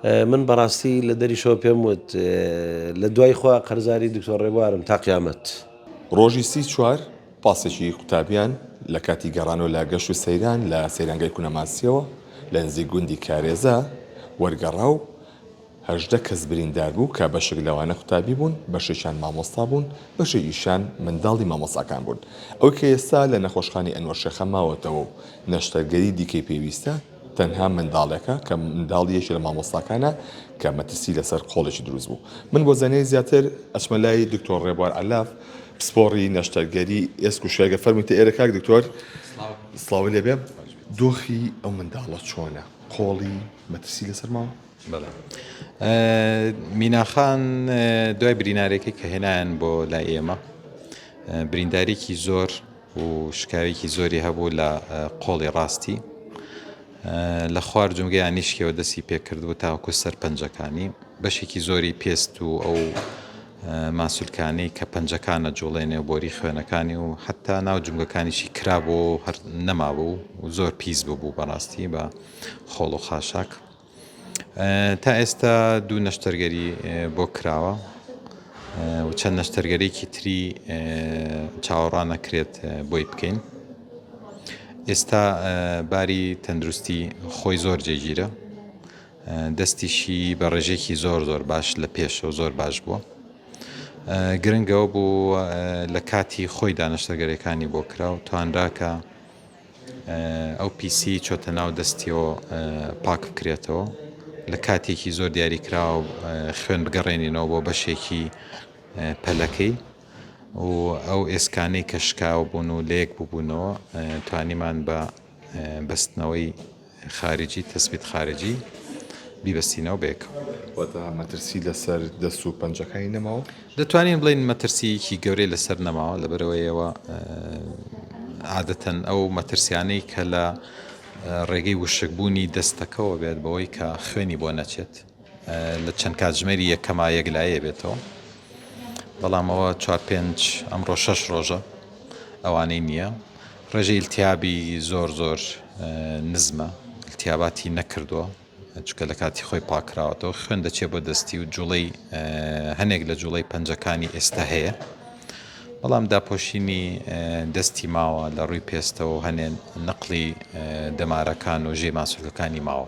من بەڕاستی لە دەریشەوە پێم وت لە دوای خوا قەرزاری دکتۆر ڕێبوارم تا قیامەت. ڕۆژی سی چوار پاسێکی قوتابیان لە کاتی گەڕانەوە لە گەشت و سەیران لە سەیرانگای کونەماسییەوە لە نزیک گوندی کارێزە وەرگەڕا و هەژدە کەس بریندار بوو کە بەشێک لەوانە قوتابی بوون، بەشێکیان مامۆستا بوون، بەشێکیشیان منداڵی مامۆستاکان بوون. ئەوەی کە ئێستا لە نەخۆشخانەی ئەنوەر شێخە ماوەتەوە و نەشتەرگەری دیکەی پێویستە، تەنها منداڵێکە کە منداڵی یەکی لە مامۆستاکانە کە مەترسی لەسەر قۆڵێکی دروست بوو من بۆ زانیاری زیاتر ئەچمە لای دکتۆر ڕێبوار عەلاف پسپۆڕی نەشتەرگەری ئێسک و شێرگە فەرمووی تە ئێرە کاک دکتۆر سڵاوی لێبێ دۆخی ئەو منداڵە چۆنە قۆڵی مەترسی لەسەر ماوە میناخان دوای برینارێکی کە هێنایان بۆ لای ئێمە بریندارێکی زۆر و شکاویکی زۆری هەبوو لە قۆڵی ڕاستی لە خوار جومگەیان نیشکەوە دەستی پێکردبوو تاوەکو سەر پەنجەکانی بەشێکی زۆری پێست و ئەو ماسولکانی کە پەنجەکانە جوڵێ نێو بۆری خوێنەکانی و حتا ناو جومگەکانیشی کرابوو هەر نەمابوو و زۆر پیس ببوو بەڕاستی بە خۆڵ و خاشاک تا ئێستا دوو نەشتەرگەری بۆ کراوە و چەند نەشتەرگەرێکی تری چاوەڕانەکرێت بۆی بکەین ئێستا باری تەندروستی خۆی زۆر جێگیرە دەستیشی بە ڕێژێکی زۆر زۆر باش لە پێشەوە زۆر باش بووە گرنگەوە بوو لە کاتی خۆی دانەشتەگەرەکانی بۆ کراو توانراکە ئەو پیسی چۆتە ناو دەستیەوە پاک بکرێتەوە لە کاتێکی زۆر دیاری کراوە خوێن بگەڕێنینەوە بۆ بەشێکی پەلەکەی و ئەو ئێسکانەی کە شکاو بوون و لەیەک ببوونەوە توانیمان بە بەستنەوەی خارجی تثبیت خارجی بیبەستینەوە بەیەکەوە. واتە مەترسی لەسەر دەست و پەنجەکانی نەماوە؟ دەتوانین بڵین مەترسیەکی گەورەی لەسەر نەماوە لەبەرەوەیەوە عادەتەن ئەو مەترسیانەی کە لە ڕێگەی وشکبوونی دەستەکەەوە بێت بەوەی کە خوێنی بۆ نەچێت لە چەند کاتژمێری یەکەما یەکلایی بێتەوە بەڵام ئەوە چوار پێنج ئەمڕۆ شەش ڕۆژە ئەوانەی نییە ڕێژەی التیابی زۆر زۆر نزمە التیاباتی نەکردووە چکە لە کاتی خۆی پاکراوەتەوە خوێن دەچێت بۆ دەستی و جوڵەی هەنێک لە جوڵەی پەنجەکانی ئێستا هەیە بەڵام داپۆشینی دەستی ماوە لە ڕووی پێستەوە هەنێن نقلی دەمارەکان و ژێ ماسولەکانی ماوە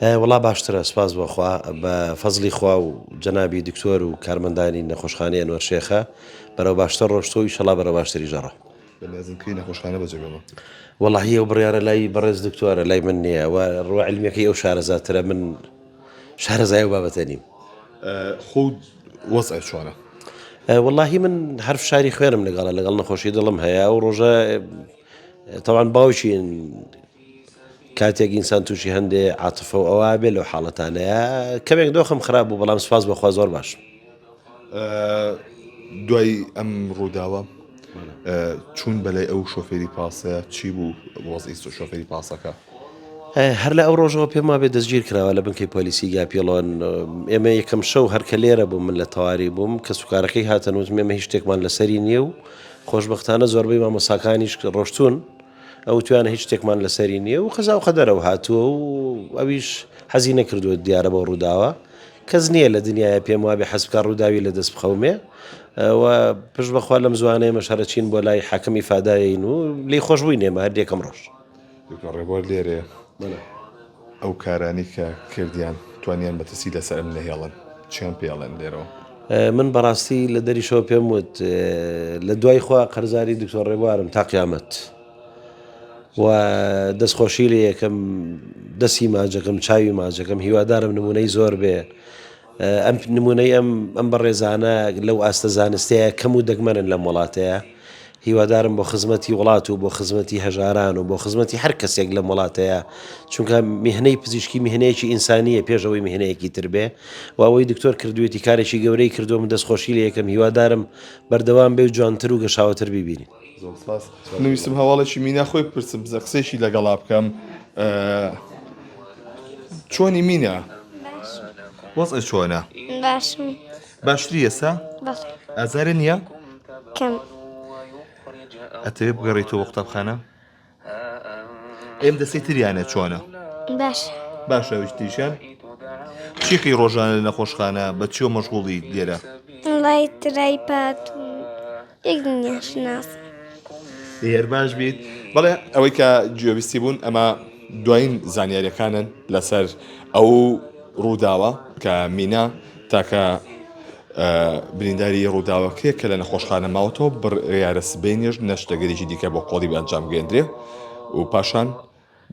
وەڵا باشترە سپاس بۆخوا بە فەزلی خوا و جەنابی دکتۆر و کارمەندانی نەخۆشخانەی ئەنوەر شێخە بەرەو باشتر ڕۆشتۆ و ئیشەڵا بەرە باشتری ژەڕە وەڵاهی ئەو بڕیارە لای بەڕێز دکتۆرە لای من نییە و ڕوە علمیەکەی ئەو شارەزاترە من شارەزای ئەو بابەتە نیم. خۆ وەزعە چۆنە؟ واللهی من هەر فشاری خوێنم لەگەڵە لەگەڵ نەخۆشی دڵم هەیە و ڕۆژە تاوان باوکین کاتێک ئینسان تووشی هەندێ عاتفە و ئەوە بێ لەو حاڵەتانەیە کەمێک دۆخم خراپ بوو بەڵام سپاس بەخوا زۆر باش. دوای ئەم ڕووداوە چوون بەلای ئەو شۆفێری پاسە چی بوو وەزئی شۆفێری پاسەکە هەر لە ئەو ڕۆژەوە پێم وابێ دەستگیر کراوە لە بنکەی پۆلیسی گاپیڵۆن ئێمە یەکەم شەو هەرکە لێرە بوو من لە تەواری بووم کە سوکارەکەی هاتەنووت مێمە هیچ شتێکمان لەسەری نییە و خۆشببختانە زۆربەی مامۆساکانیش ڕۆشتون ئەو وتویانە هیچ شتێکمان لەسەری نییە و قەزا و قەدەرەوە هاتووە و ئەویش حەزی نەکردووە دیارە بەو ڕووداوە کەس نییە لە دنیاە پێم وابێ حەزبکە ڕووداوی لە دەست بخەومێ و پش بەخوا لەم زوانەیە مەشارە چین بۆ لای حەکەم ئیفاداین و لی خۆشببووی نێمە هەردێکم ڕۆژ ڕێبوار لێرەیە. ئەو کارانەی کە کردیان توانیان مەترسی لەسەر ئەم نەهێڵن چیان پێ ئەڵێن لێرەوە؟ من بەڕاستی لە دەریشەوە پێم وت لە دوای خوا قەرزاری دکتۆر ڕێبوارم تا قیامەت و دەستخۆشی لێ یەکەم دەستی ماجەکەم چاوی ماجەکەم هیوادارم نمونەی زۆر بێ ئەم نمونەی ئەم ئەم بەڕێزانە لەو ئاستە زانستەیە کەم و دەگمەنن لەم وڵاتەیە هیوادارم بۆ خزمەتی وڵات و بۆ خزمەتی هەژاران و بۆ خزمەتی هەر کەسێک لەم وڵاتەیە چونکە میهنەی پزیشکی میهنەیەکی ئینسانیە پێشەوەی میهنەیەکی تر بێ و ئەوەی دکتۆر کردوێتی کارێکی گەورەی کردووە من دەستخۆشی لە یەکەم هیوادارم بەردەوام بێ و جوانتر و گەشاوەتر ببینین. من ویستم هەواڵێکی مینا خۆی بپرسم بزە قسێکی لەگەڵا بکەم چۆنی مینا وەز چۆنە باشتری ئێستا ئازارە نییە ئەتەوێ بگەڕێتەوە قوتابخانە ئەم دەستی تریانە چۆنە باش باشە وشتیشان چیقی ڕۆژانە لە نەخۆشخانە بە چیۆ مەشغوڵی لێرە لای ترای پات یەک دنیا شناس هێر باش بیت بەڵێ ئەوەی کە جوێویستی بوون ئەمە دوایین زانیاریەکانن لەسەر ئەو ڕووداوە کە مینا تاکە برینداری ڕووداوەکەیە کە لە نەخۆشخانە ماوەتەوە بڕیارە سبەینێش نەشتەگەرێکی دیکە بۆ قۆڵیب ئەنجامگەێندرێ و پاشان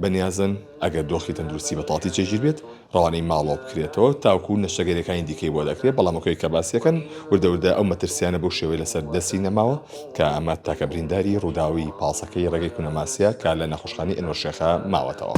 بەنیازن ئەگەر دۆخی تەندروستی بە تاڵتی چێژیر بێت ڕەوانەی ماڵەوە بکرێتەوە تاوکو نەشتەگەرەکانی دیکەی بۆ دەکرێت بەڵامەکەی کە باسیەکەن وردەوردە ئەو مەترسیانە بۆ شێوەی لەسەر دەستی نەماوە کە ئەمە تاکە برینداری ڕووداوی پاسەکەی ڕێگەی کونەماسیە کە لە نەخۆشخانەی ئەنوەر شێخە ماوەتەوە.